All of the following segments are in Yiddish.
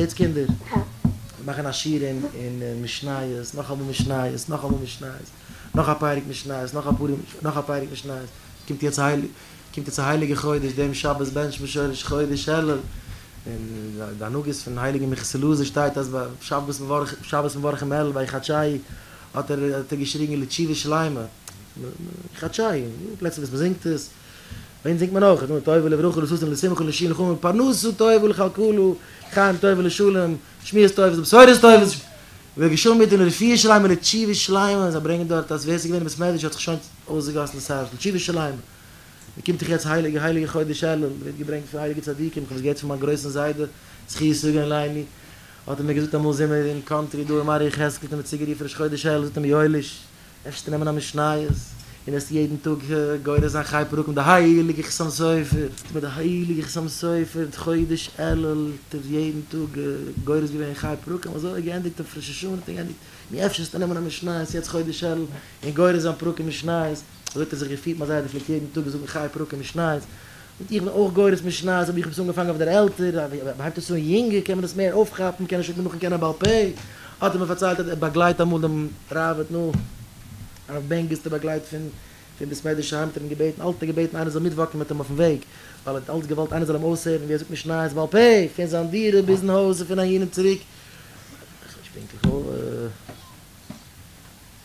יעצט קינדער, מיר מאכן א שיעור אין משניות, נאך אמאל משניות, נאך אמאל משניות, נאך א פרק משניות, נאך א פורים, נאך א פרק משניות, קומט יעצט קומט יעצט א הייליגע חודש, דעם שבת בענטשן מיר שורש חודש אלול, און די הנהגות פון הייליגן מיכאל'ס לוי'זער שטייט אז ביי שבת מברכים, שבת מברכים אלול ביי חדשי האט ער האט ער געשריגן לתשובה שלימה, חדשי, פלוצלינג וואס מ'זינגט עס. ווען זינגט מען אויך, נאר טובה לברכה לששון לשמחה לשיון לחומר פרנסה טובה ולכלכלה חיים טובה לשלום שמיעות טובות בשורות טובות רבי גרשון מיט אים לרפואה שלימה לתשובה שלימה זיי ברענגען דארט אז ווער ס'איז געווען אין בית מדרש האט זיך שוין אויסגעגאסן דאס הארץ לתשובה שלימה מ'קומט זיך יעצט הייליגע הייליגע חודש אלול מ'ווערט געברענגט פון הייליגע צדיקים כ'האב עס געהערט פון מיין גרויסן זיידע זכי' יגון לימי האט ער מיר געזאגט אמאל זעמער אין קאנטרי דא אין מערי' יחזקאל האט ער מיר צוגערופן ראש חודש אלול זאגט ער מיר יואליש אפשר צו נעמען א משניות און עס יעדן טאג גורס זיין חי פרוק מיט די הייליגע חתם סופר, מיט די הייליגע חתם סופר די חודש אלול האט ער יעדן טאג גורס געווען חי פרקים אזוי האט געענדיגט אויף ראש השנה האט ער געענדיגט, נו אפשר צו נעמען א משניות יעצט חודש אלול און גורס זיין פרקים משניות, אזוי האט ער זיך געפירט מיט א זיידע פלעגט יעדן טאג זאגן חי פרקים משניות, זאגט איך בין אויך גורס משניות אבער איך האב עס אנגעפאנגען אויף דער עלטער, אז מען הייבט עס אן יונגער קען מען עס מער אויפכאפן, קען השי ת נאכן קענען בעל פה, האט ער מיר פארציילט אז ער באגלייט אמאל דעם ראבד נו הרב בענגיסטער באגלייט פון פון ביז מעדישע היים האט ער אים געבעטן אלץ געבעטן איינער זאל מיטוואקן מיט אים אויפן וועג ווייל ער האט אלץ געוואלט איינער זאל אים אויסהערן ווי ער זאגט משניות בעל פה פון זיין דירה ביזן הויז און פון אהין און צוריק.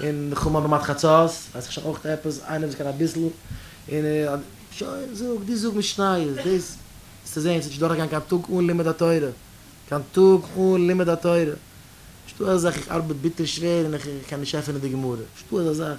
און כ'האב מיין נאמאד חצות, ווייס איך שוין אויך עפעס, איינער וואס קען אביסל, און שוין, זאג, דו זאג משניות, דאס וועסטו זען, ס'וועט נישט דורכגיין קיין טאג אן לימוד התורה, קיין טאג אן לימוד התורה, נישטא אזא זאך איך ארבעט ביטער שווער און איך קען נישט עפענען די גמרא, נישטא אזא זאך.